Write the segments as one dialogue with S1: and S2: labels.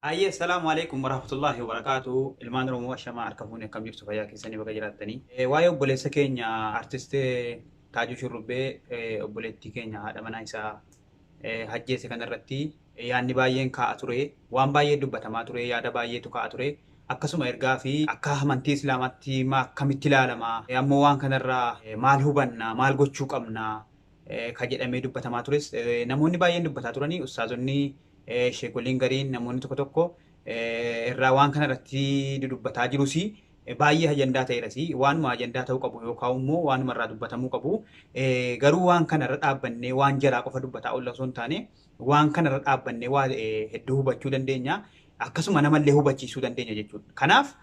S1: Hayyee salaamu alaikum warahmatullahi wabarakaatu ilmaan oromoo ashamaa harka fuuni akkam jirtu fayyaa keessanii baga jiraattanii Eh, waa'ee obboleessa keenya artist Taajuu Shurrubbee eh, obboleettii keenya haadha manaa isaa eh, hajjeese kanarratti eh, yaadni baay'een kaa'a ture waan baay'ee dubbatamaa ture yaada baay'eetu kaa'a ture akkasuma ergaa fi akka amantii islaamaatti ma akkamitti ilaalama Eh, ammoo waan kanarraa eh, maal hubanna maal gochuu qabna eh, ka jedhamee dubbatamaa tures eh, namoonni baay'een dubbataa turanii ustaazonni sheekolleen gariin namoonni tokko tokko irraa waan kana irratti dudubbataa jirus baay'ee ajandaa ta'eeras waanuma ajandaa ta'uu qabu yookaan immoo waanuma irraa dubbatamuu qabu garuu waan kana irra dhaabbannee waan jaraa qofa dubbataa oolla osoo hin taane waan kana irra dhaabbannee waa hedduu hubachuu dandeenya akkasuma namallee hubachiisuu dandeenya jechuudha. Kanaaf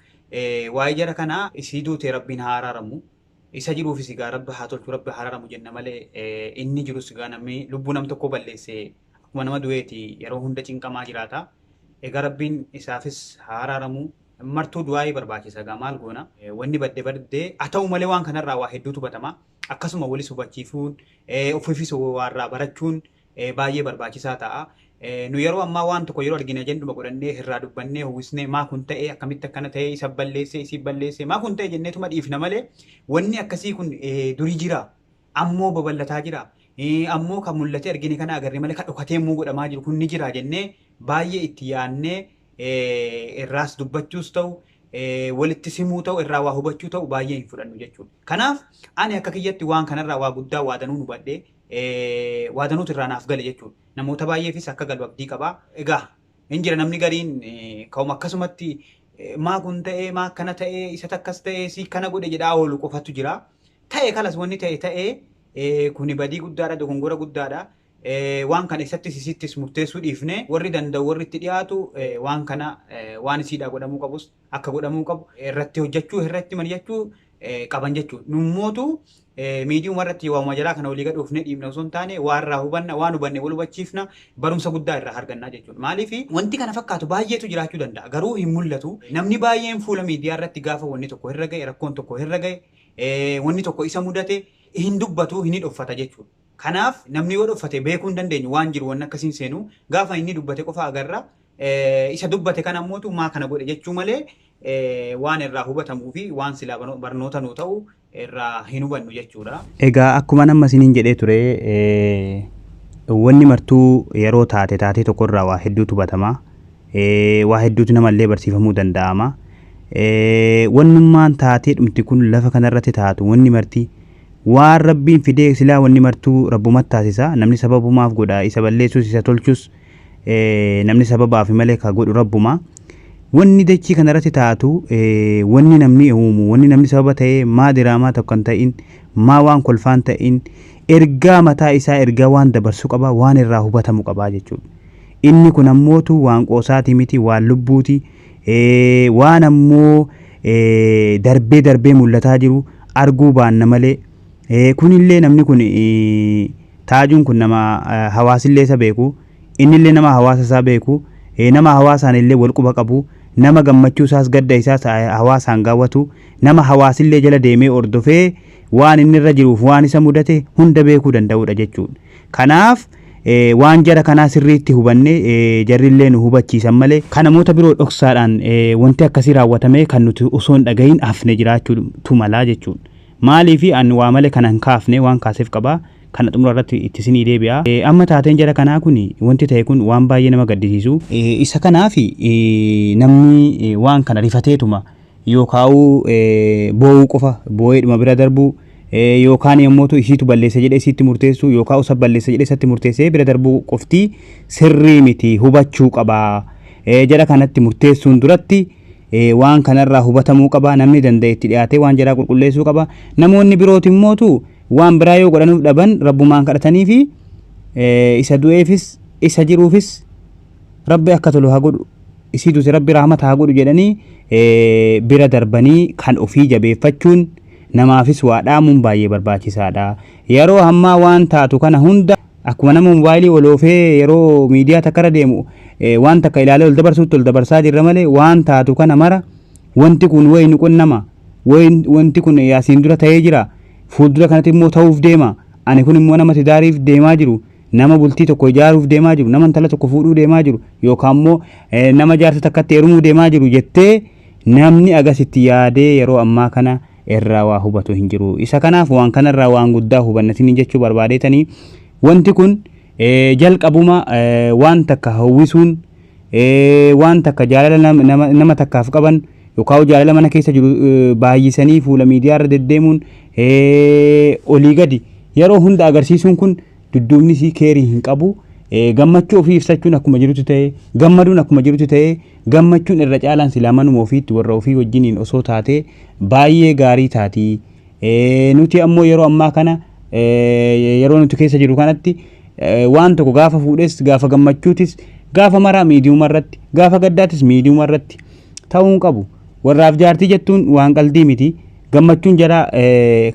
S1: waa'ee jara kanaa isii duutee rabbiin haa araaramu isa jiruufis egaa rabbi haa tolchu rabbi haa araaramu jenna malee inni jirus egaa namni lubbuu nam tokkoo balleessee Akkuma nama du'eeti yeroo hunda cinqamaa jiraata. Egaa Rabbiin isaafis haa araaramu. Martuu du'aa'ii barbaachisa egaa maal goona. Wanni badde badde haa ta'u malee waan kanarraa waa hedduutu batama. Akkasuma walis hubachiisuun, ofiifis waa irraa barachuun baay'ee barbaachisaa ta'a. Nu yeroo ammaa waan tokko yeroo argine ajanduma godhannee irraa dubbannee howwisnee maa kun ta'e akkamitti akkana ta'e isa balleesse isii balleesse maa kun ta'e jenneetuma dhiifna malee wanni akkasii kun durii jira. ammoo babal'ataa jira, ammoo ka mul'atee argine kana agarre malee ka dhokatee immoo godhamaa jiru kun ni jira jennee baay'ee itti yaannee irraas dubbachuus ta'u walittis himuu ta'u irraa waa hubachuu ta'u baay'ee hin fudhannu jechuudha. Kanaaf ani akka kiyyatti waan kanarraa waa guddaa waa danuun hubadhe waa danuutu irraa naaf gale jechuudha. Namoota baay'eefis akka galu abdii qaba. Egaa Hin jira namni gariin eh, ka'uma akkasumatti eh, maa kun ta'ee maa akkana ta'ee isa takkas ta'ee si kana godhe jedhaa oolu qofatu jira. Ta'e kalas wanni ta'e ta'ee eh, kuni badii guddaadha dogongora guddaadha. Eh, Waan kana isattis isittis murteessuu dhiifne warri danda'u warri itti dhiyaatu eh, waan kana eh, waan isiidhaa godhamuu qabus akka godhamuu qabu irratti hojjechuu irratti mari'achuu eh, qaban jechuudha. Nummootu Miidiyuma irratti waamuma jalaa kana olii gad oofnee dhiibna osoo hin taane waa irraa hubanna, waan hubanne wal hubachiifna, barumsa guddaa irraa arganna jechuudha. Maaliif wanti kana fakkaatu baay'eetu jiraachuu danda'a. Garuu hin mul'atu. Namni baay'een fuula miidiyaa irratti gaafa wanni tokko irra ga'e, rakkoon tokko irra ga'e, wanni tokko isa mudate hin dubbatu, hin hidhoffata jechuudha. Kanaaf namni yoo dhoffate beekuu hin dandeenyu waan jiru wanni akkasii hin seenu. Gaafa inni dubbate qofa agarra. Isa dubbate kana ammootu maa kana godhe jechuu malee waan irraa hubatamuu fi waan silaa barnoota nuu ta'u irraa hin hubannu jechuudha. Egaa akkuman amma
S2: isiniin jedhee ture wanni martuu yeroo taate taatee tokko irraa waa hedduutu hubatama. Waa hedduutu namallee barsiifamuu danda'ama. Wannummaan taatee dhumti kun lafa kanarratti taatu wanni marti waan rabbiin fidee silaa wanni martuu rabbumatti taasisa namni sababumaaf godha isa balleessus isa tolchus namni sababaafi malee ka godhu Rabbuma. Wanni dachii kanarratti taatu wanni namni uumu, wanni namni sababa ta'ee maa diraamaa tokko hin ta'in, maa waan kolfaan ta'in, ergaa mataa isaa ergaa waan dabarsu qaba, waan irraa hubatamu qaba jechuudha. Inni kun ammootu waan qoosaati miti, waan lubbuuti, waan ammoo darbee darbee mul'ataa jiru arguu baanna malee Eh, kunillee namni kun eh, taajuun kun nama eh, hawaasillee isa beeku innillee nama hawaasa isaa beeku eh, nama hawaasaan illee wal quba qabu nama gammachuu isaas gadda isaas eh, hawaasaan gaawwatu nama hawaasillee jala deemee ordofee waan inni irra jiruuf waan isa mudate hunda beekuu danda'uudha jechuudha. Kanaaf eh, waan jara kanaa sirriitti hubanne eh, jarrillee nu hubachiisan malee kan namoota biroo dhoksaadhaan eh, wanti akkasii raawwatamee kan nuti osoo hin dhagahin hafne jiraachuutu malaa jechuudha. Maaliifi an waa male kana hin kaafne waan kaasef qaba. Kana xumura irratti itti isinii deebi'a. Amma taateen jara kanaa kun wanti tahe kun waan baay'ee nama gaddisiisu. Isa kanaafi namni waan kana rifateetuma yookaa'uu boo'uu qofa boo'eedhuma bira darbu yookaanii ammootu isiitu balleesse jedhee isiitti murteessu yookaa'u isa balleesse jedhee isatti murteessee bira darbuu qofti sirrii miti hubachuu qaba. Jara kanatti murteessuun duratti waan kana irraa hubatamuu qaba. Namni danda'e itti dhiyaatee waan jaraa qulqulleessuu qaba. Namoonni birooti immootu waan biraa yoo godhanuuf dhaban rabbumaan kadhatanii fi isa du'eefis isa jiruufis rabbi akka tolu haa godhu. Isii duute rabbi rahmata haa godhu jedhanii bira darbanii kan ofii jabeeffachuun namaafis waa dhaamuun baay'ee barbaachisaadha. Yeroo ammaa waan taatu kana hunda Akkuma nama mobaayilii ol oofee yeroo miidiyaa takka irra deemu waan takka ilaalee ol dabarsuutti ol dabarsaa jirra malee waan taatu kana mara wanti kun wayi ni qunnama wanti kun asiin dura ta'ee jira fuuldura kanatti immoo ta'uuf deema ani kun immoo nama tidaariif deemaa jiru nama bultii tokko ijaaruuf deemaa jiru nama intala tokko fuudhuu deemaa jiru yookaan immoo nama jaarsa takkatti heerumuu deemaa jiru jettee namni agasitti yaadee yeroo ammaa kana irraa waa hubatu hin jiru. Isa kanaaf waan kana irraa waan guddaa hubanna isiniin jechuu barbaadeetanii wanti kun eh, jalqabuma eh, waan takka hawwisuun eh, waan takka jaalala nam- nama, nama takkaaf qaban yookaan jaalala mana keessa jiru eh, baay'isanii fuula miidiyaa irra deddeemuun eh, olii gadi yeroo hunda agarsiisuun kun dudduubni isii keerii hin qabu. Eh, gammachuu ofii ibsachuun akkuma jirutti ta'e gammaduun akkuma jirutti ta'e Gammachuun irra caalaan silaa manuma ofiitti warra ofii wajjiniin osoo taatee baay'ee gaarii taati. Nuti ammoo yeroo ammaa kana yeroo nuti keessa jiru kanatti waan tokko gaafa fuudhes gaafa gammachuutis gaafa maraa miidiyuma irratti gaafa gaddaatis miidiyuma irratti ta'uun qabu. Warraaf jaartii jettuun waan qaldii miti. Gammachuun jaraa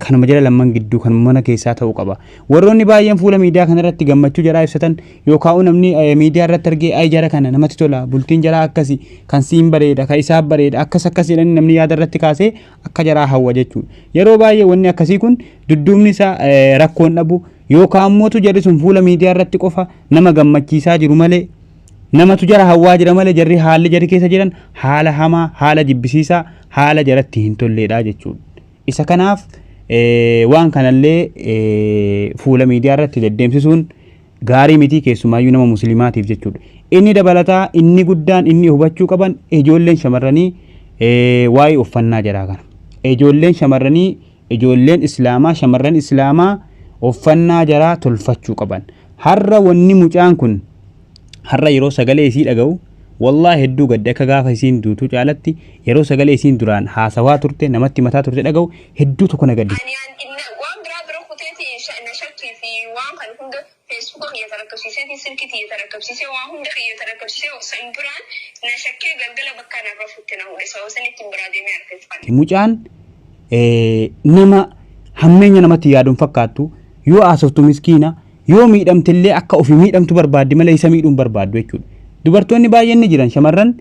S2: kanuma jara lamman gidduu kan mana keessaa ta'uu qaba. Warroonni baay'een fuula miidiyaa kanarratti gammachuu jaraa ibsatan yookaan namni miidiyaa irratti argee ay jara kana namatti tola bultiin jaraa akkasi kan siin bareeda kan isaaf bareeda akkas akkas jedhanii namni yaada irratti kaasee akka jaraa hawwa jechuudha. Yeroo baay'ee wanni akkasii kun dudduubni isaa rakkoon dhabu yookaan mootu jarri sun fuula miidiyaa irratti qofa nama gammachiisaa jiru malee Namatu jara hawwaa jira malee jarri haalli jarri keessa jiran haala hamaa, haala jibbisiisaa, haala jaratti hin tolleedha jechuudha. Isa kanaaf waan kanallee fuula miidiyaa irratti deddeemsisuun gaarii mitii keessumaayyuu nama musliimaatiif jechuudha. Inni dabalataa inni guddaan inni hubachuu qaban ijoolleen shamarranii waa'ee uffannaa jaraa kana. Ijoolleen shamarranii ijoolleen islaamaa shamarran islaamaa uffannaa jaraa tolfachuu qaban har'a wanni mucaan kun har'a yeroo sagalee isii dhaga'u wallaa hedduu gadde akka gaafa isiin duutuu caalatti yeroo sagalee isiin duraan haasawaa turte namatti mataa turte dhaga'u hedduu tokko na gaddise. Ani an- na- waan biraa
S3: bira kuteeti sha- na shakkii fi waan kan hunda Feesbuka kiyya tarakkabsiisee fi silkii tiyya tarakkabsiisee waan hunda kiyya tarakkabsiisee san biraan na shakkee galgala bakka na rafutti na hudhe sababa sanittiin biraa deemee argate fanne. Mucaan
S2: nama hammeenya namatti yaadu hin fakkaattu yoo haasoftu miskiina yoo miidhamte illee akka ofii miidhamtu barbaaddi malee isa miidhuu hin barbaaddu jechuudha. Dubartoonni baay'een ni jiran shamarran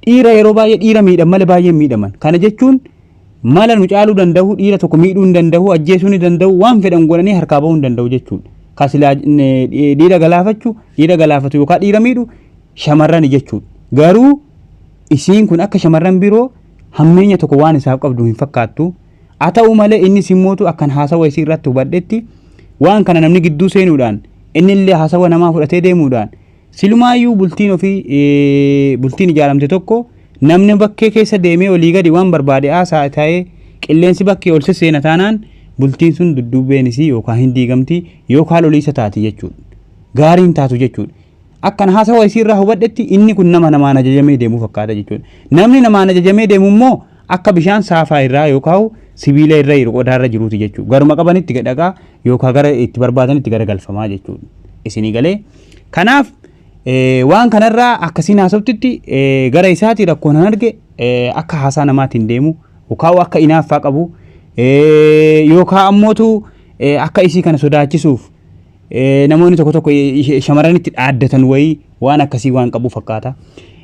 S2: Dhiira yeroo baay'ee dhiira miidhan malee baay'ee hin miidhaman. Kana jechuun mala nu caaluu danda'u, dhiira tokko miidhuu hin danda'u, ajjeesuu ni danda'u, waan fedhan godhanii harkaa bahuu hin danda'u jechuudha. Kan silaa eh, dhi- dhiira galaafachu, dhiira galaafatu yookaan dhiira miidhu shamarrani jechuudha. Garuu isiin kun akka shamarran biroo hammeenya tokko waan isaaf qabdu hin fakkaattu. Haa ta'u malee inni simmootu akkan haasawa isii irratti hubadhetti waan kana namni gidduu seenuudhaan inni illee haasawa namaa fudhatee deemuudhaan Silumaayyuu bultiin ofii bultiin ijaaramte tokko namni bakkee keessa deemee olii gadi waan barbaade haasaa ta'ee qilleensi bakkee ol sesseena taanaan bultiin sun dudduubeen isii yookaan hin diigamti yookaan loliisa taati jechuudha. Gaarii hin taatu jechuudha. Akkan haasawa isii irraa hubadhetti inni kun nama namaan ajajamee deemu fakkaata jechuudha. Namni namaan ajajamee deemu immoo akka bishaan saafaa irraa yookaan sibiila irra jiru qodaa irra jiruuti jechuudha. Garuma qabanitti gadhaqaa yookaan gara itti barbaadanitti gara galfamaa jechuudha. Isinii galee. Kanaaf waan kanarraa akkasiin haasoftitti gara isaati rakkoon han arge akka haasaa namaatiin deemu yookaan akka inaaffaa qabu yookaan ammootu akka isii kana sodaachisuuf namoonni tokko tokko shamarranitti dhaaddatan wayii waan akkasii waan qabu fakkaata.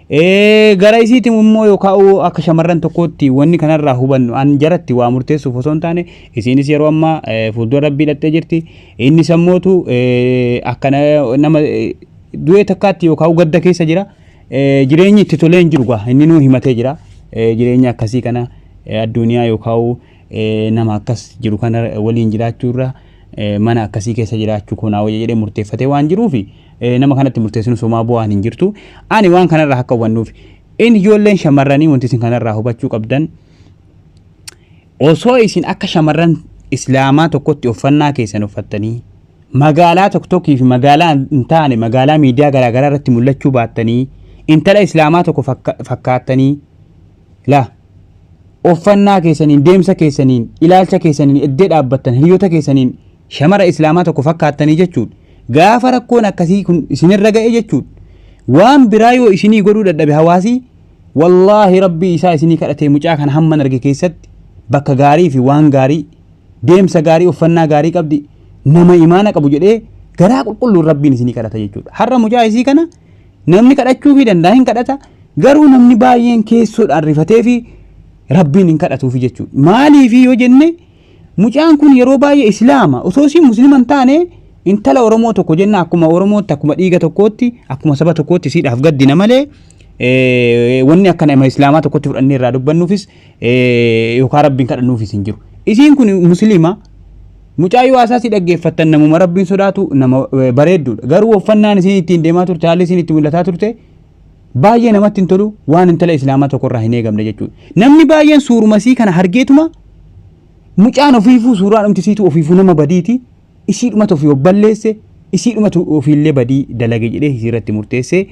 S2: Gara isiitiin immoo yoo kaa'u akka shamarran tokkootti wanni kanarraa hubannu an jaratti waa murteessuuf osoo hin taane isiinis yeroo ammaa fuuldura rabbii dhattee jirti inni sammootu akka nama du'ee takkaatti yoo kaa'u gadda keessa jira jireenyi itti tolee hin jiru gaa inni nuu himatee jira jireenya akkasii kana addunyaa yoo kaa'u nama akkas jiru kana waliin jiraachuu irra mana akkasii keessa jiraachuu koo naa wayya jedhee murteeffatee waan jiruuf nama kanatti murteessinu somaa bu'aan hin jirtu. Ani waan kanarraa akka hubannuuf in ijoolleen shamarranii wanti isin kanarraa hubachuu qabdan osoo isin akka shamarran islaamaa tokkotti uffannaa keessan uffattanii magaalaa tokko tokkii fi magaalaa hin taane magaalaa miidiyaa garaagaraa irratti mul'achuu baattanii intala islaamaa tokko fakkaattanii Laa. Uffannaa keessaniin, deemsa keessaniin, ilaalcha keessaniin, eddee dhaabbattan, hiriyoota keessaniin shamara Islaamaa tokko fakkaattanii jechuudha. Gaafa rakkoon akkasii kun isinirra ga'e jechuudha. Waan biraa yoo isinii godhuu dadhabe hawaasii wallaahi rabbii isaa isinii kadhatee mucaa kana hamman arge keessatti bakka gaarii fi waan gaarii deemsa gaarii uffannaa gaarii qabdi nama imaana qabu jedhee garaa qulqulluun rabbiin isinii kadhata jechuudha. Har'a mucaa isii kana Namni kadhachuufii danda'a hin kadhata garuu namni baay'een keessoodhaan rifatee fi rabbiin hin kadhatuufi jechuudha. Maaliifi yoo jenne mucaan kun yeroo baay'ee islaama osoo isiin muslima hin taane intala Oromoo tokko jenna akkuma Oromootti akkuma dhiiga tokkootti akkuma saba tokkootti isiidhaaf gaddina malee wanni akkana ima islaamaa tokkotti fudhannee irraa dubbannuufis yookaan rabbiin kadhannuufis hin jiru. Isiin kun musliima mucaa yoo haasaa si dhaggeeffattan namuma rabbiin sodaatu nama bareedduudha. Garuu uffannaan isiin ittiin deemaa turte haalli isiin itti mul'ataa turte baay'ee namatti hin tolu waan intala islaamaa tokkorraa hin eegamne jechuudha. Namni baay'een suurumasii kana hargeetuma mucaan ofiifuu suuraa dhumtisiitu ofiifuu nama badiiti. isiidhumatu ofii of balleesse isiidhumatu ofiillee badii dalage jedhee isii irratti murteessee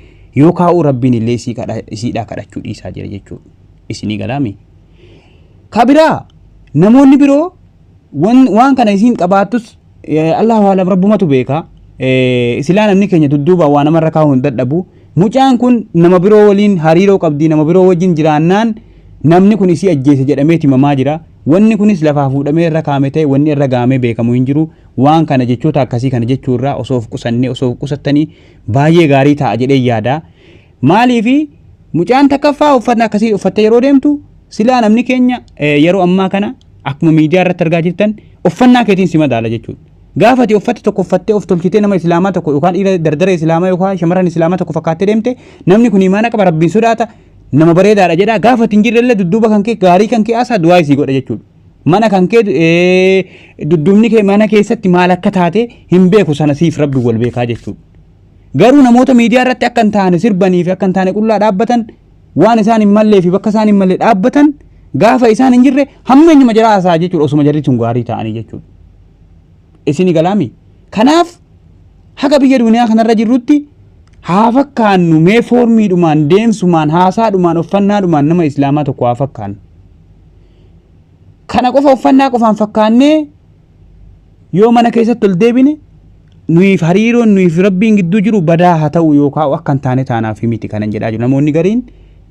S2: yoo kaa'uu rabbiin illee isii kadha isiidhaa kadhachuu dhiisaa jira jechuudha isinii galaami ka biraa namoonni biroo wan, waan kana isiin qabaattus eh, allahu alam rabbumatu beeka eh, silaa namni keenya dudduuba waa namarra kaa'uu hin dadhabu mucaan kun nama biroo waliin hariiroo qabdi nama biroo wajjin jiraannaan namni kun isii ajjeese jedhameeti mamaa jira Wanni kunis lafaa fuudhamee irra kaa'ame ta'e wanni irra ga'amee beekamu hin jiru. Waan kana jechoota akkasii kana jechuu irraa osoo of qusannee osoo of qusattanii baay'ee gaarii ta'a jedheen yaada. Maaliifi mucaan takkaffaa uffata akkasii uffattee yeroo deemtu silaa namni keenya eh, yeroo ammaa kana akkuma miidiyaa irratti argaa jirtan uffannaa keetiin si madaala jechuudha. Gaafa ati uffata tokko uffattee of tolchitee nama islaamaa tokko yookaan dhiira dardara islaamaa yookaan shamarran islaamaa tokko fakkaattee deemte namni kun imaana qaba rabbiin sodaata nama bareedaadha jedhaa gaafa ittiin jirrellee dudduuba kan kee gaarii kan kee haasaa du'aa isii godha jechuudha. Mana kan kee eh, dudduubni kee mana keessatti maal akka taate hin beeku sana siif rabbi wal beekaa jechuudha. Garuu namoota miidiyaa irratti akka hin taane sirbanii fi akka hin taane qullaa dhaabbatan waan isaan hin mallee fi bakka isaan hin malle dhaabbatan gaafa isaan hin jirre hammeenyuma jira haasaa jechuudha osuma jarri sun gaarii ta'anii jechuudha. isini galaami kanaaf haga biyya duniyaa kanarra jirrutti haa fakkaannu mee foormiidhumaan deemsumaan haasaadhumaan uffannaadhumaan nama islaamaa tokko haa fakkaannu kana qofa uffannaa qofaan fakkaannee yoo mana keessatti ol deebine nuyiif hariiroon nuyiif rabbiin gidduu jiru badaa haa ta'u yookaan akka hin taane taanaaf miti kanan jedhaa jiru namoonni gariin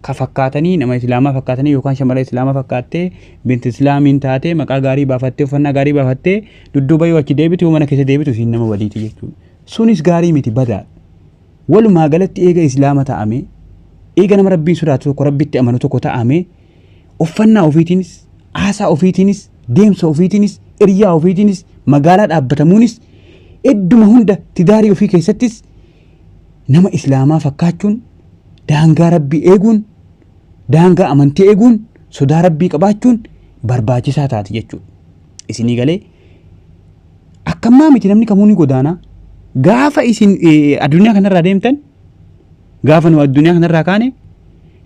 S2: ka fakkaatanii nama islaamaa fakkaatanii yookaan shamara islaamaa fakkaattee binti islaamiin taatee maqaa gaarii baafattee uffannaa gaarii baafattee dudduuba yoo achi deebitu yoo mana keessa deebitu isiin nama waliiti jechuudha. Sunis gaarii miti badaa. Walumaa galatti eega islaama ta'ame eega nama rabbiin sodaatu tokko rabbitti amanu tokko ta'ame uffannaa ofiitiinis haasaa ofiitiinis deemsa ofiitiinis iryaa ofiitiinis magaalaa dhaabbatamuunis idduma hunda tidaarii ofii keessattis nama islaamaa fakkaachuun daangaa rabbii eeguun daangaa amantii eeguun sodaa rabbii qabaachuun barbaachisaa taati jechuudha. Isinii galee akkammaa miti namni kamuu ni godaanaa gaafa isin eh, addunyaa kanarraa deemtan gaafa nu addunyaa kanarraa kaane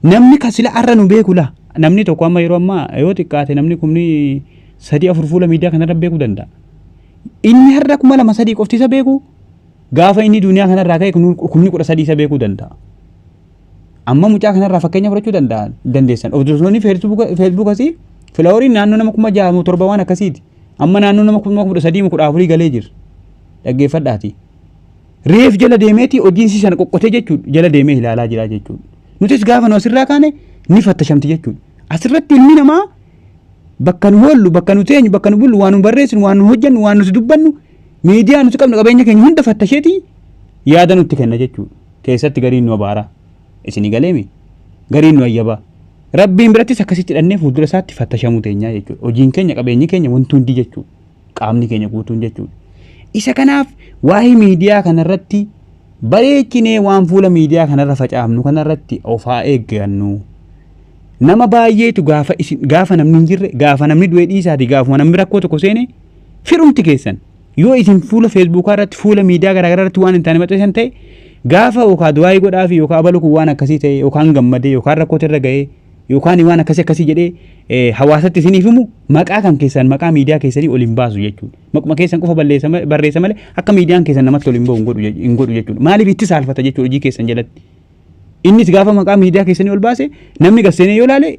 S2: namni kan sila arra nu beeku laa namni tokko amma yeroo ammaa yoo xiqqaate namni kumni sadii afur fuula miidiyaa kanarra beekuu danda'a. Inni har'a kuma lama sadii qofti isa beeku Gaafa inni duniyaa kanarraa ka'e kumni kudha sadii isa beekuu danda'a. Amma mucaa kanarraa fakkeenya fudhachuu danda'a dandeessan. Hordoftoonni feesbuukasii filaaworiin naannoo nama kuma ja'a moo torba waan akkasiiti. Amma naannoo nama kuma kudha sadii moo kudha afurii galee jira. Dhaggeeffadhaati. Reef jala deemeeti hojiinsi sana qoqqotee jechuudha jala deemee ilaalaa jira jechuudha. Nutis gaafa nu asirraa kaane ni fattashamti jechuudha. Asirratti ilmi namaa bakka nu hoollu bakka nu teenyu bakka nu bullu waan nu barreessinu waan nu hojjennu waan nuti dubbannu miidiyaa nuti qabnu qabeenya keenya hunda fattasheeti yaada nutti kenna jechuudha. Keessatti gariin nu abaaraa. Isinii galeemi gariin nu ayyabaa. Rabbiin birattis akkasitti dhannee fuuldura isaatti fattashamuu teenyaa jechuudha. Hojiin keenya qabeenyi keenya wanti hundi jechuudha. Qaamni keenya guutuun jechuudha. Isa kanaaf waa'ee miidiyaa kanarratti bareechinee waan fuula miidiyaa kanarra facaafnu kanarratti of haa eeggannu. Nama baay'eetu gaafa isin gaafa namni hin jirre gaafa namni du'ee dhiisaati gaafuma namni rakkoo tokko seene Firumti keessan yoo isin fuula feesbuukaa irratti fuula miidiyaa garaagaraa irratti waan hin taane maxxansan ta'e gaafa yookaan du'aayii godhaa fi yookaan abalu kun waan akkasii ta'e yookaan gammadee yookaan rakkoota irra ga'ee yookaan waan akkasii akkasii jedhee eh, hawaasatti isiniif himu maqaa kan keessan maqaa miidiyaa keessanii ol hin baasu jechuudha. Maquma keessan qofa balleessa ma- barreessa malee akka miidiyaan keessan namatti ol hin ba'u hin godhu je- hin godhu jechuudha. Maaliif itti saalfata jechuudha hojii keessan jalatti. Innis gaafa maqaa miidiyaa keessanii ol baase namni gasseenee yoo ilaale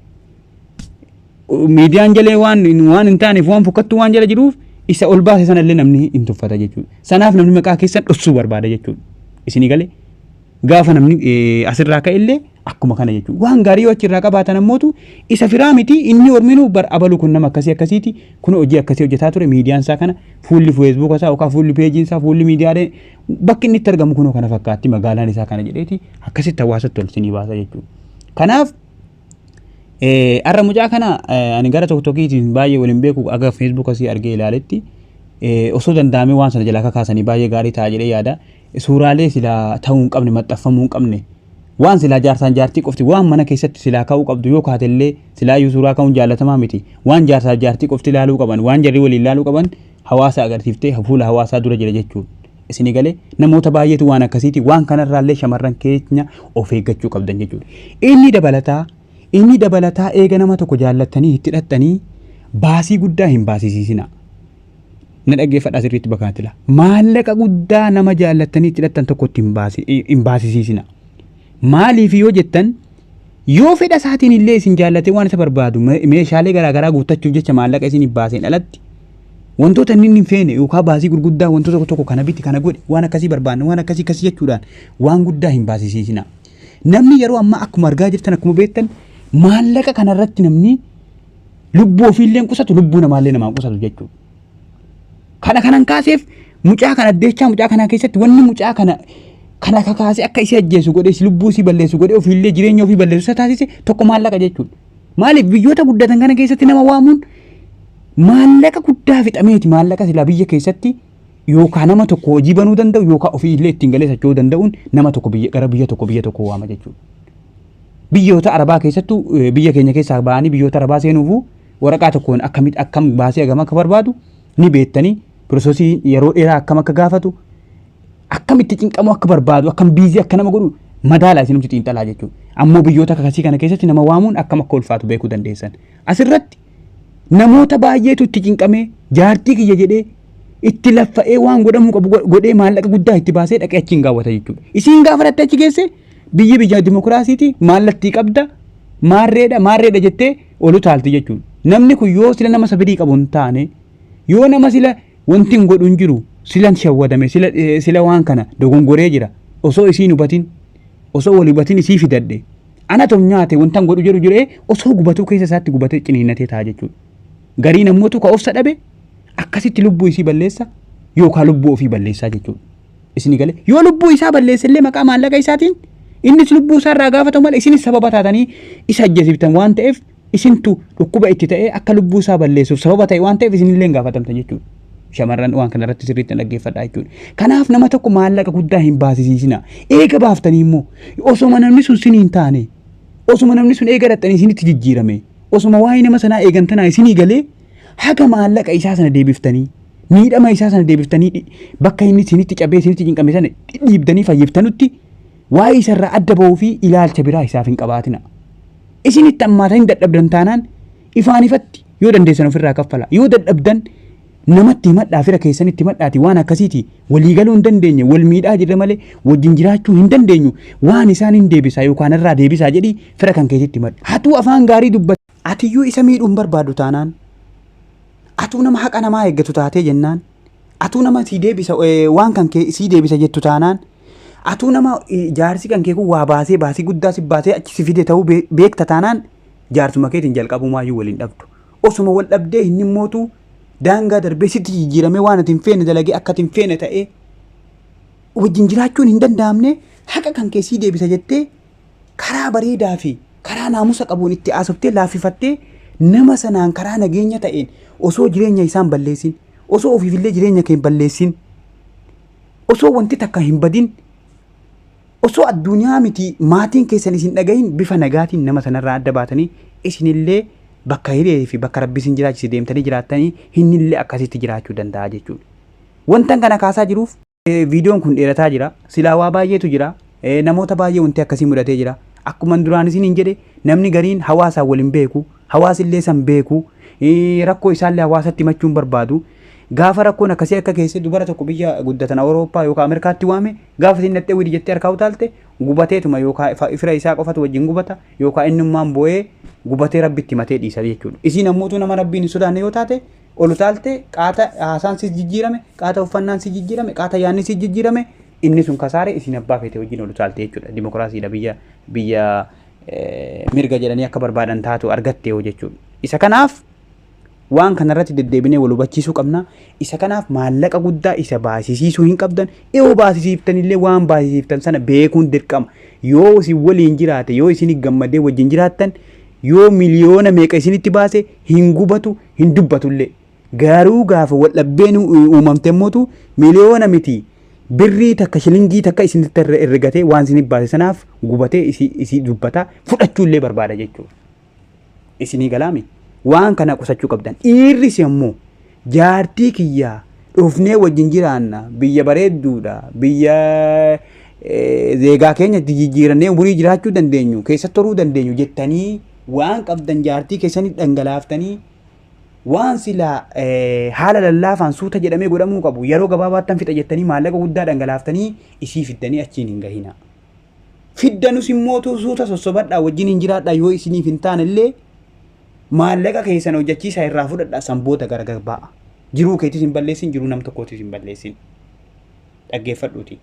S2: Miidiyaan jalee waan waan hin taaneef waan fokkattuu waan jala jiruuf isa ol baase sana illee namni hin tuffata jechuudha. Sanaaf namni maqaa keessan dhossuu barbaada jechuudha. Isinii galee gaafa namni eh, asirraa ka'e illee akkuma kana jechuudha. Waan gaarii yoo achirraa qabaatan ammootu isa firaa miti inni horminuu bar abaluu kun nama akkasii akkasiiti kun hojii akkasii hojjetaa ture miidiyaan isaa kana fuulli feesbuuka isaa yookaan fuulli peejiin isaa fuulli miidiyaalee bakki inni itti argamu kunoo kana fakkaatti magaalaan isaa kana jedheeti akkasitti hawaasatti ol isinii baasa jechuudha. Kanaaf Har'a mucaa kana ani gara tokko tokkiitiin baay'ee waliin beeku aga Facebook asii argee ilaaletti osoo danda'amee waan sana jalaa kakaasanii baay'ee gaarii ta'a jedhee yaada. Suuraalee silaa ta'uu hin qabne maxxanfamuu hin qabne waan silaa jaarsaan jaartii qofti waan mana keessatti silaa ka'uu qabdu yoo kaatellee silaa iyyuu suuraa ka'uun jaallatamaa miti waan jaarsaa jaartii qofti ilaaluu qaban waan jarri waliin ilaaluu qaban hawaasa agarsiiftee fuula hawaasaa dura jira jechuudha. Isin galee namoota baay'eetu waan akkasiiti waan kanarraallee shamarran keenya of eeggachuu qabdan jechuudha. Inni dabalataa inni dabalataa eega nama tokko jaallattanii itti dhaxxanii baasii guddaa hin baasisiisina. Na dhaggeeffadhaa sirriitti bakkaatti laa. Maallaqa guddaa nama jaallattanii itti dhaxxan tokkotti hin baasi- hin baasisiisina. Maaliif yoo jettan yoo fedha isaatiin illee isin jaallatee waan isa barbaadu me- meeshaalee garaagaraa guuttachuuf jecha maallaqa isin hin baaseen alatti Wantoota inni hin feene yookaan baasii gurguddaa wantoota tokko tokko kana biti kana godhi waan akkasii barbaanna waan akkasii akkasii jechuudhaan waan guddaa hin baasisiisina. Namni yeroo ammaa akkuma argaa jirtan akkuma beektan maallaqa kanarratti namni lubbuu ofiillee qusatu lubbuu namaallee namaa qusatu jechuudha. Kana kanan kaaseef mucaa kana addeechaa mucaa kanaa keessatti wanni mucaa kana kan akka kaasee akka isii ajjeesu godhe lubbuu isii balleessu godhe ofiillee jireenya ofii balleessu isa taasise tokko maallaqa jechuudha. Maaliif biyyoota guddatan kana keessatti nama waamuun maallaqa guddaa fixameeti maallaqa silaa biyya keessatti yookaan nama tokko hojii banuu danda'u yookaan ofii illee ittiin galee socho'uu danda'uun nama tokko biyya gara biyya tokko biyya tokko waama jechuudha. Biyyoota Arabaa keessattuu eh, biyya keenya keessaa ba'anii biyyoota Arabaa seenuufuu waraqaa tokkoon akkamitti akkam baasee hagam akka barbaadu ni beektanii piroosesii yeroo dheeraa akkam akka gaafatu akkamitti cinqamuu akka barbaadu akkam biizii akka nama godhu madaala isinumti xiinxalaa jechuudha. Ammoo biyyoota kakasii kana keessatti nama waamuun akkam akka ulfaatu beekuu dandeessan. Asirratti namoota baay'eetu itti cinqamee jaartii kiyya jedhee itti laffa'ee waan godhamuu qabu godhee maallaqa guddaa itti baasee dhaqee achiin gaawwata jechuudha. Isiin gaafa dhatte achi geesse biyyi biyya dimokiraasiiti maallattii qabda maarreedha maarreedha jettee olu taalti jechuudha. Namni kun yoo sila nama sabirii qabu hin taane yoo nama sila Wantin godhu hin jiru silan shawwadame sila, eh, sila waan kana dogongoree jira osoo isiin hubatin osoo wal hubatin isii fidadhe ana tom nyaate wantan godhu jedhu jiree osoo gubatuu keessa isaatti gubatee ciniinnatee ta'a jechuudha. Garii nammootu ka obsa dhabe akkasitti lubbuu isii balleessa yookaan lubbuu ofii balleessaa jechuudha. Isini galee yoo lubbuu isaa balleesse illee maqaa maallaqa isaatiin innis lubbuu isaa irraa gaafatamu malee isinis sababa taatanii isa ajjeesiftan waan ta'eef isintu dhukkuba itti ta'ee akka lubbuu isaa balleessuuf sababa ta'e waan ta'eef isinillee hin gaafatamtan jechuudha. Shamarran waan kana irratti sirriitti hin dhaggeeffadhaa jechuudha. Kanaaf nama tokko maallaqa guddaa hin baasisiisina. Eega baaftanii immoo osoma namni sun sin hin taane osoma namni sun eega dhaxxanii isinitti jijjiirame osoma waa'ee nama sanaa eegantanaa isinii galee haga maallaqa isaa sana deebiftanii miidhama isaa sana deebiftanii dhi- bakka inni isinitti cabee isinitti cinqame sana dhiibdanii fayyiftanutti waa'ee isarraa adda ba'uu fi ilaalcha biraa isaaf hin qabaatina. Isin itti hammaatan hin dadhabdan taanaan ifaan ifatti yoo dandeessan ofirraa kaffala. Yoo dadhabdan namatti himadhaa fira keessan itti himadhaati waan akkasiiti walii galuu hin dandeenye wal miidhaa jirra malee wajjin jiraachuu hin dandeenyu waan isaan hin deebisaa yookaan irraa deebisaa jedhi fira kan keessatti himadhu. Hatuu afaan gaarii dubbata. Atiyyuu isa miidhuu hin barbaadu taanaan atuu nama haqa namaa eeggatu taatee jennaan Atuu nama sii deebisa eh, waan kan kee sii deebisa jettu taanaan atuu nama eh, jaarsi kan kee kun waa baasee baasii guddaa si baasee achi si fide ta'uu bee- beekta taanaan jaarsuma keetiin jalqabumaayyuu waliin dhabdu. Osuma wal dhabdee hin himmootu daangaa darbee sitti jijjiiramee waan ati hin feene dalagee akka ati hin feene ta'ee wajjin jiraachuun hin danda'amne haqa kan kee sii deebisa jettee karaa bareedaa fi karaa naamusa qabuun itti haasoftee laaffifattee nama sanaan karaa nageenya ta'een osoo jireenya isaan balleessin osoo ofiifillee jireenya kee balleessin osoo wanti takka hin badin osoo addunyaa miti maatiin keessan isin dhagahin bifa nagaatiin nama sanarraa adda baatanii isinillee bakka hiree fi bakka rabbi isin jiraachise deemtanii jiraattanii hinnillee akkasitti jiraachuu danda'a jechuudha. Wantan kana kaasaa jiruuf Viidiyoon kun dheerataa jira. Silaa waa baay'eetu jira. Namoota baay'ee wanti akkasii mudatee jira. Akkuma duraan isiniin jedhe namni gariin hawaasaan wal hin beeku. Hawaasi illee san beeku. Rakkoo isaallee hawaasatti himachuun barbaadu. Gaafa rakkoon akkasii akka keessee dubara tokko biyya guddatan Awurooppaa yookaan Ameerikaatti waame gaafa isin dhattee widi jettee harkaa utaalte gubateetuma yookaan fira isaa qofatu wajjin gubata yookaan innummaan boo'ee gubatee rabbitti himatee dhiisa jechuudha. Isiin ammoo utuu nama rabbiin hin sodaanne yoo taate Ol utaaltee qaata haasaan si jijjiirame, qaata uffannaan si jijjiirame, qaata yaanni si jijjiirame inni sun kasaare isin abbaa feete wajjin ol utaalte jechuudha. Dimookiraasiidha biyya biyya eh, mirga jedhanii akka barbaadan taatu argatte yoo jechuudha. Isa kanaaf waan kanarratti deddeebinee wal hubachiisuu qabna. Isa kanaaf maallaqa guddaa isa baasisiisuu hin qabdan. Yoo baasisiiftan illee waan baasisiiftan sana beekuun dirqama. Yoo isin waliin jiraate, yoo isin gammadee wajjin jiraattan, yoo miliyoona meeqa isinitti baase hin gubatu, hin dubbatullee. Garuu gaafa waldhabbeen uumamte immoo miliyoona miti birrii takka shilingii takka isinitti irra ergatee waan isin baase sanaaf gubatee isi- isii dubbata fudhachuullee barbaada jechuudha. Isinii galaami waan kana qusachuu qabdan. Dhiirris immoo jaartii kiyyaa dhufnee wajjin jiraanna biyya bareedduudha biyya eh, zeegaa keenyatti jijjiirannee umurii jiraachuu dandeenyu keessatti horuu dandeenyu jettanii waan qabdan jaartii keessanii dhangalaaftanii waan silaa haala lallaafaan suuta jedhamee godhamuu qabu yeroo gabaabaattan fixa jettanii maallaqa guddaa dhangalaaftanii isii fiddanii achiin hin gahina. Fiddanus immoo suuta sossobadhaa wajjin hin jiraadhaa yoo isiniif hin taane illee maallaqa keessan hojjechiisaa irraa fudhadhaa san booda gargar ba'a. Jiruu keetis hin balleessin jiruu nam tokkootis hin balleessin. Dhaggeeffadhuuti.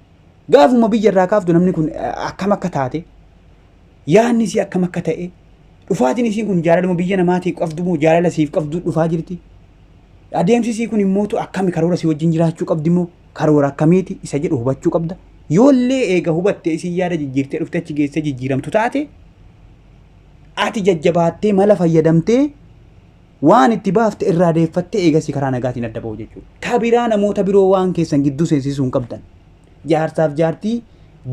S2: Gaafuma biyya irraa kaaftu namni kun akkam akka taate Yaadni isii akkam akka ta'e, dhufaatiin isiin kun jaalaluma biyya namaatiif qabdu moo jaalala siif qabdu dhufaa jirti? Adeemsi isii kun immoo akkami karoora si wajjin jiraachuu qabdi moo karoora akkamiiti isa jedhu hubachuu qabda. Yoollee eega hubattee isiin yaada jijjiirtee dhuftee achi geessee jijjiiramtu taate ati jajjabaattee mala fayyadamtee waan itti baafte irraa deeffattee eegasii karaa nagaatiin adda ba'u jechuudha. Ta biraa namoota biroo waan keessan gidduu seensisuu hin qabdan. Jaarsaaf jaartii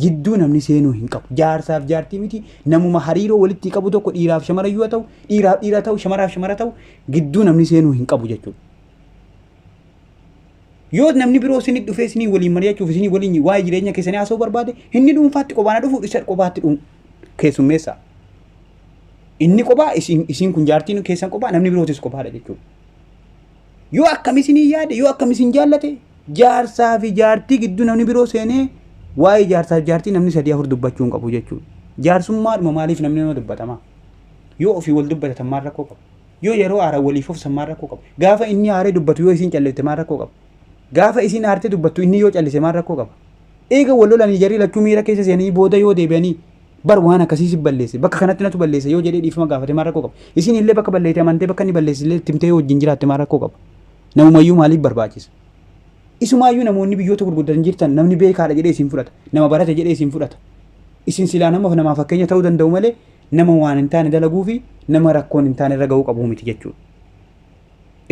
S2: jidduu namni seenuu hin qabu. Jaarsaaf jaartii miti namuma hariiroo walitti qabu tokko dhiiraaf shamara yoo ta'u, dhiiraaf dhiira ta'u, shamaraaf shamara ta'u gidduu namni seenuu hin qabu jechuudha. Yoo namni biroo isinii dhufee isinii waliin mari'achuuf isinii waliin waa'ee jireenya keessanii haasa'uu barbaade inni dhuunfaatti qobaana dhufu isa qobaatti dhuun keessummeessa. Inni qobaa isin kun jaartiin keessan qobaa namni birootis qobaadha jechuudha. Yoo akkam isinii yaade, yoo akkam isin jaallate, jaarsaa fi jaartii gidduu namni biroo seenee waa'ee jaarsaa fi jaartii namni sadii afur dubbachuu hin qabu jechuudha. Jaarsummaadhuma maaliif namni nama dubbatama? Yoo ofii wal dubbatatan maal rakkoo qabu? Yoo yeroo aara waliif ofsan maal rakkoo qabu? Gaafa inni aaree dubbatu yoo isin callifte maal rakkoo qabu? Gaafa isin aartee dubbattu inni yoo callise maal rakkoo qaba? Eega wal lolanii jarri lachuu miira keessa seenanii booda yoo deebi'anii bar waan akkasii si balleesse bakka kanatti natu balleesse yoo jedhee dhiifama gaafate maal rakkoo qaba isin illee bakka balleete amantee bakka inni balleesse illee itti himtee yoo wajjin jiraatte maal rakkoo qaba namumayyuu maaliif barbaachisa isumaayyuu namoonni biyyoota gurguddatan jirtan namni beekaadha jedhee isin fudhata nama barate jedhee isin fudhata isin silaa nama namaa fakkeenya ta'uu danda'u malee nama waan hin taane dalaguu fi nama rakkoon hin taane irra ga'uu qabu miti jechuudha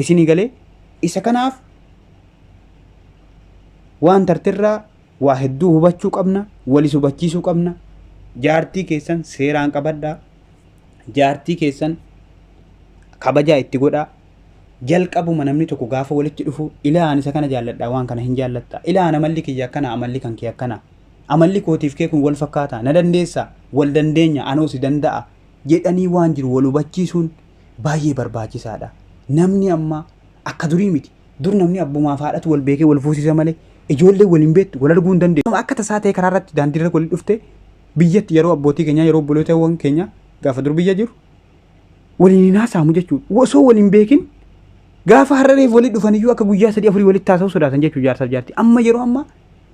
S2: isinii galee isa kanaaf Waan tartirraa waa hedduu hubachuu qabna, walis hubachiisuu qabna. Jaartii keessan seeraan qabadhaa. Jaartii keessan kabajaa itti godhaa. Jalqabuma namni tokko gaafa walitti dhufu ilaa ani isa kana jaalladha waan kana hin jaallattaa. Ilaa ana amalli kiyya akkana amalli kan kee akkana. Amalli kootiif kee kun wal fakkaataa na dandeessaa wal dandeenya anoo si danda'a jedhanii waan jiru wal hubachiisuun baay'ee barbaachisaadha. Namni amma akka durii miti. Dur namni abbumaaf haadhatu wal beekee wal fuusisa malee ijoollee wal hin beektu wal arguu hin dandeessu. Akka tasaa ta'e karaa irratti daandii irra walitti dhufte biyyatti yeroo abbootii keenyaa yeroo obbolootawwan keenya gaafa dur biyya jiru waliin hin haasa'amu jechuudha. Osoo wal hin beekin gaafa har'areef walitti dhufan iyyuu akka guyyaa sadii afurii walitti haasa'u sodaatan jechuudha jaarsaaf jaartii. Amma yeroo ammaa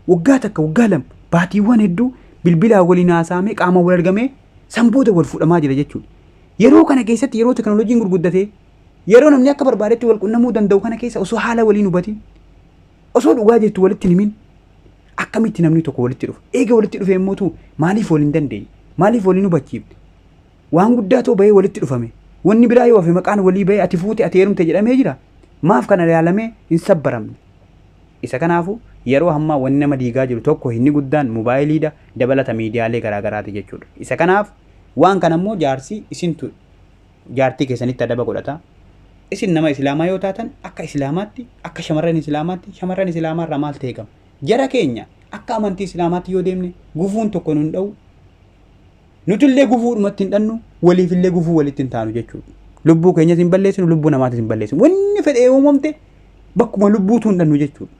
S2: waggaa takka waggaa lama baatiiwwan hedduu bilbilaa waliin haasa'amee qaama wal argamee san booda wal fuudhamaa jira jechuudha. Yeroo kana keessatti yeroo teknooloojiin gurguddatee Yeroo namni akka barbaadetti wal qunnamuu danda'u kana keessa osoo haala waliin hubatiin, osoo dhugaa jirtu walitti himin, akkamitti namni tokko walitti dhufa? Eega walitti dhufee immoo tuu maaliif wal hin dandeenye? Maaliif wal hin hubachiifne? Waan guddaa too bahee walitti dhufame. Wanni biraa yoo hafe maqaan walii bahee ati fuute ati heerumte jedhamee jira. Maaf kana ilaalamee hin sabbaramne? Isa kanaafu yeroo hammaa wanni nama diigaa jiru tokko inni guddaan mobaayiliidha dabalata miidiyaalee garaagaraati jechuudha. Isa kanaaf waan kana immoo jaarsi isintu jaartii keessanitti adaba godhata. Isin nama Islaamaa yoo taatan akka Islaamaatti, akka shamarran Islaamaatti, shamarran Islaamaa irraa maaltu eegama? Jara keenya akka amantii Islaamaatti yoo deemne gufuun tokko nun dha'u. Nutillee gufuudhumatti hin dhannu, waliifillee gufuu walitti hin taanu jechuudha. Lubbuu keenyas hin balleessinu, lubbuu namaatis hin balleessinu. Wanni fedhee uumamte bakkuma lubbuutu hin dhannu jechuudha.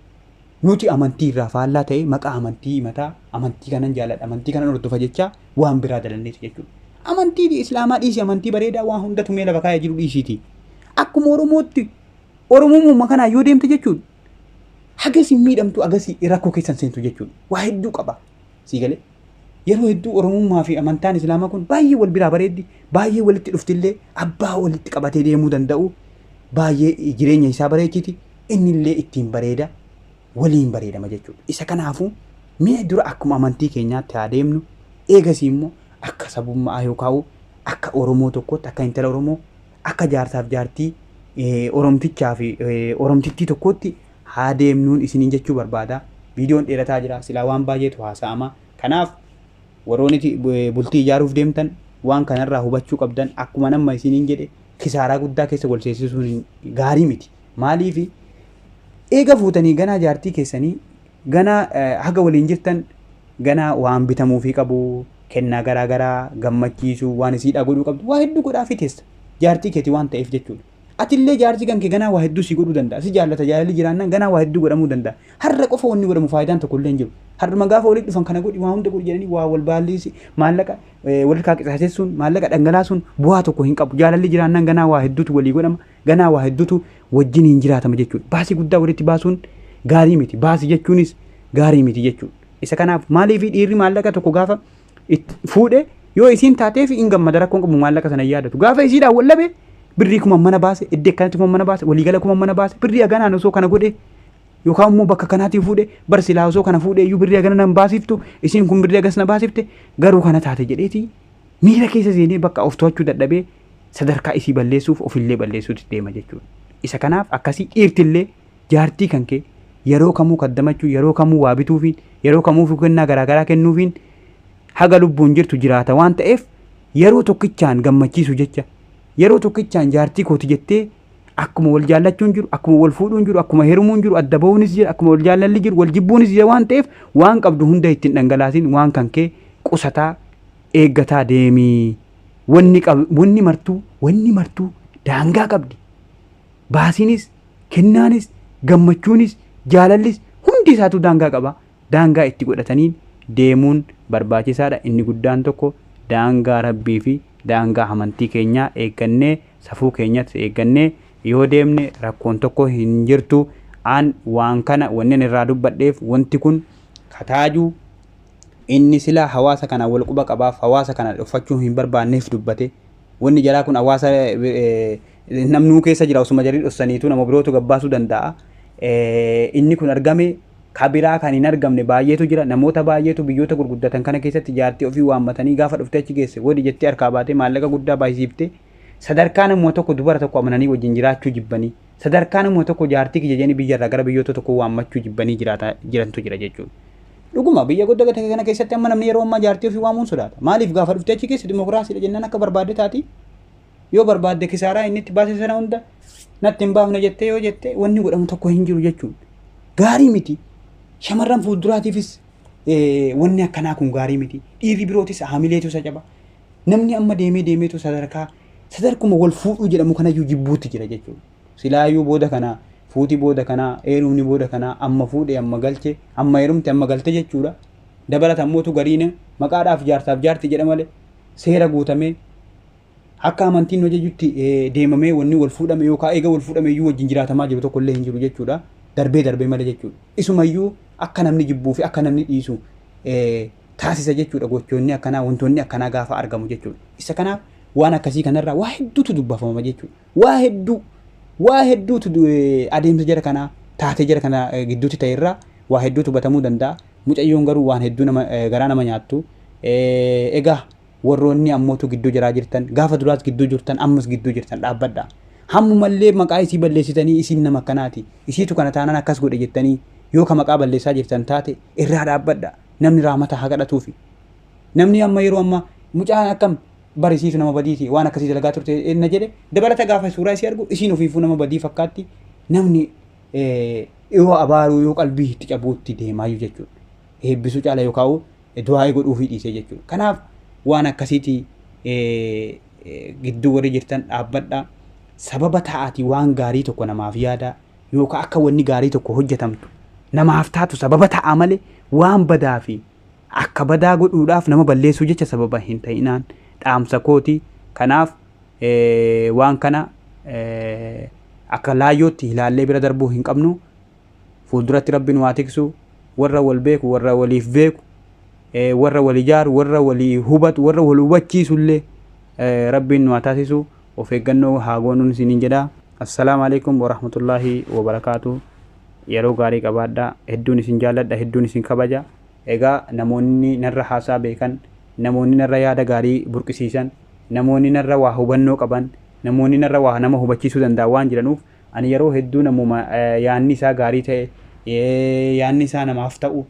S2: Nuti amantii irraa faallaa ta'ee maqaa amantii himataa, amantii kanan jaaladha, amantii kanan hordofa jechaa waan biraa dalanneeti jechuudha. Amantii Islaamaa dhiisi, amantii bareedaa waan hunda tumee lafa kaa'ee jiru dhiisiiti. Akkuma Oromootti Oromummaa kanaa yoo deemte jechuudha. Hagasii miidhamtu agasii rakkoo keessan seentu jechuudha. Waa hedduu qaba. Sii galee? Yeroo hedduu Oromummaa fi amantaan Islaamaa kun baay'ee wal biraa bareeddi, baay'ee walitti dhuftillee abbaa walitti qabatee deemuu danda'u, baay'ee jireenya isaa bareechiti, innillee ittiin bareeda, waliin bareedama jechuudha. Isa kanaafuu mee dura akkuma amantii keenyaatti haa deemnu, eegasii immoo akka sabummaa yookaan akka Oromoo tokkootti, akka intala Oromoo, akka jaarsaaf jaartii eh, Oromtichaa fi eh, Oromtittii tokkootti haa deemnuun isiniin jechuu barbaada. Viidiyoon dheerataa jira, silaa waan baay'eetu haasa'ama. Kanaaf warroonni ti- bu- eh, bultii ijaaruuf deemtan waan kanarraa hubachuu qabdan akkuma amma isiniin jedhe kisaaraa guddaa keessa wal seensisuun hin- gaarii miti. Maaliifi eega fuutanii ganaa jaartii keessanii ganaa haga waliin jirtan ganaa waan bitamuufii qabu kennaa garaa garaa gammachiisuu waan isiidhaa godhuu qabdu waa hedduu godhaafii teessa jaartii keeti waan ta'eef jechuudha. Atillee jaartii kan kee ganaa waa hedduu si godhuu danda'a si jaallata jaalalli jiraannaan ganaa waa hedduu godhamuu danda'a har'a qofa wanni godhamu faayidaan tokko illee hin jiru har'uma gaafa walitti dhufan kana godhi waa hunda godhi jedhanii waa wal baalliisi maallaqa walirkaa qisaasessuun maallaqa dhangalaasuun bu'aa tokko hin qabu jaalalli jiraannaan ganaa waa hedduutu walii godhama Ganaa waa heddutu wajjiniin jiraatama jechuudha. Baasii guddaa walitti baasuun gaarii miti. Baasii jechuunis gaarii miti jechuudha. Isa kanaaf maaliif dhiirri maallaqa tokko gaafa itti fuudhe yoo isiin taateef hin gammada rakkoon qabu maallaqa sana hin yaadatu. Gaafa isiidhaan wal dhabe birrii kuma mana baase iddoo akkanatti kuma mana baase waliigala kuma mana baase birrii haganaan osoo kana godhe yookaan immoo bakka kanaatii fuudhe bar silaa osoo kana fuudhe iyyuu birrii hagana nan baasiftu isiin kun birrii hagas na baasifte garuu kana taate jedheeti miira keessa seenee bakka of to'achuu dadhabee sadarkaa isii balleessuuf ofillee balleessuutti deema jechuudha. Isa kanaaf akkasii dhiirtillee jaartii kan kee yeroo kamuu kaddamachuu, yeroo kamuu waa bituufiin, yeroo kamuufuu kennaa garaagaraa kennuufiin haga lubbuun jirtu jiraata waan ta'eef yeroo tokkichaan gammachiisu jecha yeroo tokkichaan jaartii kooti jettee akkuma wal jaallachuun jiru, akkuma wal fuudhuun jiru, akkuma herumuun jiru, adda ba'uunis jira, akkuma wal jaallalli jiru, wal jibbuunis jira waan ta'eef waan qabdu hunda ittiin dhangalaasin waan kan kee qusataa eeggataa deemi. Wanni qab- wanni martuu wanni martuu daangaa qabdi. Baasiinis, kennaanis, gammachuunis, jaalallis hundi isaatu daangaa qaba. Daangaa itti godhataniin deemuun barbaachisaadha. Inni guddaan tokko daangaa Rabbii fi daangaa amantii keenyaa eeggannee safuu keenyas eeggannee yoo deemne rakkoon tokko hin jirtu. An waan kana wannin irraa dubbadheef wanti kun kataaju Inni silaa hawaasa kanaan wal quba qabaaf hawaasa kana dhoffachuu hin barbaanneef dubbate. Wanni jaraa kun hawaasa namnuu keessa jira osuma jarii dhossaniitu nama birootu gabbaasuu danda'a. Inni kun argame kabiraa kan hin argamne baay'eetu jira. Namoota baay'eetu biyyoota gurguddatan kana keessatti jaartii ofii waammatanii gaafa dhuftee achi geesse wadi jettee harkaa baatee maallaqa guddaa baay'isiifte. Sadarkaa namuma tokko dubara tokko amananii wajjin jiraachuu jibbanii. Sadarkaa namuma tokko jaartii kiyya jedhanii biyyarraa gara biyyoota tokko waammachuu jibbanii jiraata jirantu jira jechuudha. Dhuguma biyya guddaa ta'e kana keessatti amma namni yeroo ammaa jaartii ofii waamuun sodaata. Maaliif gaafa dhuftee achi keessa dimokiraasiidha jennaan akka barbaadde taati. Yoo barbaadde kisaaraa inni itti baase sana hunda natti hin baafne jettee yoo jette wanni godhamu tokko hin jiru jechuun. Gaarii miti. Shamarran fuulduraatiifis eh, wanni akkanaa kun gaarii miti. Dhiirri birootis haamileetu isa caba. Namni amma deemee deemeetu sadarkaa sadarkuma wal fuudhuu jedhamu kanayyuu jibbuutti jira jechuudha. Silaayuu booda kana fuuti booda kana eerumni booda kana amma fuudhe amma galche amma eerumte amma galte jechuudha. Dabalata ammoo tu gariin maqaadhaaf jaarsaaf jaarti jedha malee seera guutamee akka amantiin nu ajajutti deemamee wanni wal fuudhame yookaan eega wal fuudhame iyyuu wajjin jiraatamaa jiru tokko illee hin jiru jechuudha. Darbee darbee malee jechuudha. Isumayyuu akka namni jibbuu fi akka namni dhiisu taasisa jechuudha gochoonni akkanaa wantoonni akkanaa gaafa argamu jechuudha. Isa kanaaf waan akkasii kanarraa waa hedduutu dubbafama jechuudha. Waa hedduu waa hedduutu du- eh, adeemsa jara kanaa taatee jara kana eh, gidduutti ta'e irraa waa hedduutu hubatamuu danda'a. Mucayyoon garuu waan hedduu nama eh, garaa nama nyaattu. Eh, Egaa warroonni ammootu gidduu jaraa jirtan gaafa duraas gidduu jirtan ammas gidduu jirtan dhaabbadha. Hammumallee maqaa isii balleessitanii isiin nama akkanaati. Isiitu kana taanaan akkas godhe jettanii yoo ka maqaa balleessaa jirtan taate irraa dhaabbadha. Namni raamata haa kadhatuufi. Namni amma yeroo amma mucaan akkam bar isiif nama badiiti waan akkasii dalagaa turte na jedhe dabalata gaafa suuraa isii argu isiin ofiifuu nama badii fakkaatti namni yoo abaaruu yoo qalbii itti cabuutti deemaayyu jechuudha. Eebbisuu caala yoo kaa'u du'aa'ee godhuufii dhiisee jechuudha. Kanaaf waan akkasiiti gidduu warri jirtan dhaabbadha. Sababa ta'aati waan gaarii tokko namaaf yaada yookaan akka wanni gaarii tokko hojjetamtu namaaf taatu sababa ta'a malee waan badaa fi Akka badaa godhuudhaaf nama balleessuu jecha sababa hin ta'inaan dhaamsa kooti. Kanaaf waan kana akka laayyootti ilaallee bira darbuu hin qabnu. Fuulduratti Rabbi nu haa tiksu. Warra wal beeku, warra waliif beeku, warra wal ijaaru, warra walii hubatu, warra wal hubachiisu illee Rabbiin nu haa taasisu. Of eeggannoo haa goonuun isiniin jedha. Assalaamu alaikum warahmatullaahi wabarakaatu. Yeroo gaarii qabaadhaa. Hedduun isin jaalladha, hedduun isin kabaja. Egaa namoonni narra haasaa beekan, namoonni narra yaada gaarii burqisiisan, namoonni narra waa hubannoo qaban, namoonni narra waa nama hubachiisuu danda'an waan jiranuuf ani yeroo hedduu namuma yaanni isaa gaarii ta'e, yaanni isaa namaaf ta'u,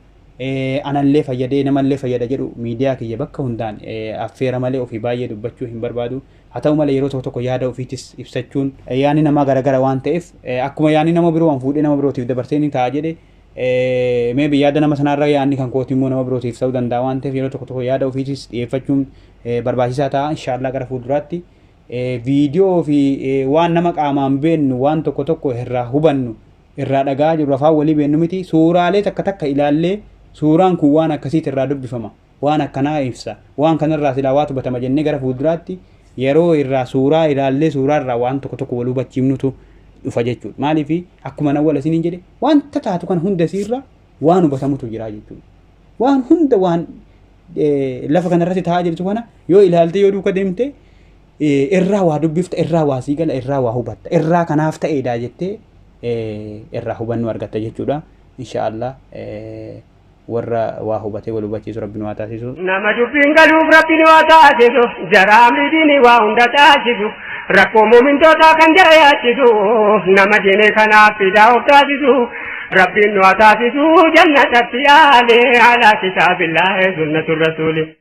S2: anallee fayyadee namallee fayyada jedhu miidiyaa kiyya bakka hundaan affeera malee ofii baay'ee dubbachuu hin barbaadu. Haa ta'u malee yeroo tokko tokko yaada ofiitis ibsachuun. Yaanni namaa garagara waan ta'eef akkuma yaanni nama biroo an fuudhee nama birootiif dabarsee ni ta'a jedhe May be yaada nama sanaa irra yaadni kan kootii immoo nama birootiif ta'uu danda'a waan ta'eef yeroo tokko tokko yaada ofiitis dhiyeeffachuun barbaachisaa ta'a inshaallah gara fuulduraatti viidiyoo fi waan nama qaamaan beennu waan tokko tokko irraa hubannu irraa dhagaa jirru afaan walii beennu miti suuraalee takka takka ilaallee suuraan kun waan akkasiiti irraa dubbifama Waan akkanaa ibsa. Waan kanarraa silaa waatu batama jennee gara fuulduraatti yeroo irraa suuraa ilaallee suuraa irraa waan tokko tokko wal hubachiifnutu dhufa jechuudha. Maaliif akkuma nawwala isiniin jedhe wanta taatu kana hunda isiirra waan hubatamutu jira jechuudha. Waan hunda waan lafa kanarratti taa'aa jirtu kana yoo ilaalte yoo duuka deemte irraa waa dubbifta irraa waa sii gala irraa waa hubatta irraa kanaaf ta'eedha jettee irraa hubannoo argatta jechuudha. Inshaallah. warra waa hubatee wal hubachiisu rabbi nu haa taasisu. Nama dubbiin galuuf rabbi nu haa taasisu jara amri diinii waa hunda taasisu rakkoo muumintootaa kan jara yaachisu nama diinee kanaaf fidaa of taasisu rabbiin nu haa taasisu jannatatti aale ala kitaabillahi sunnatu rasuuli.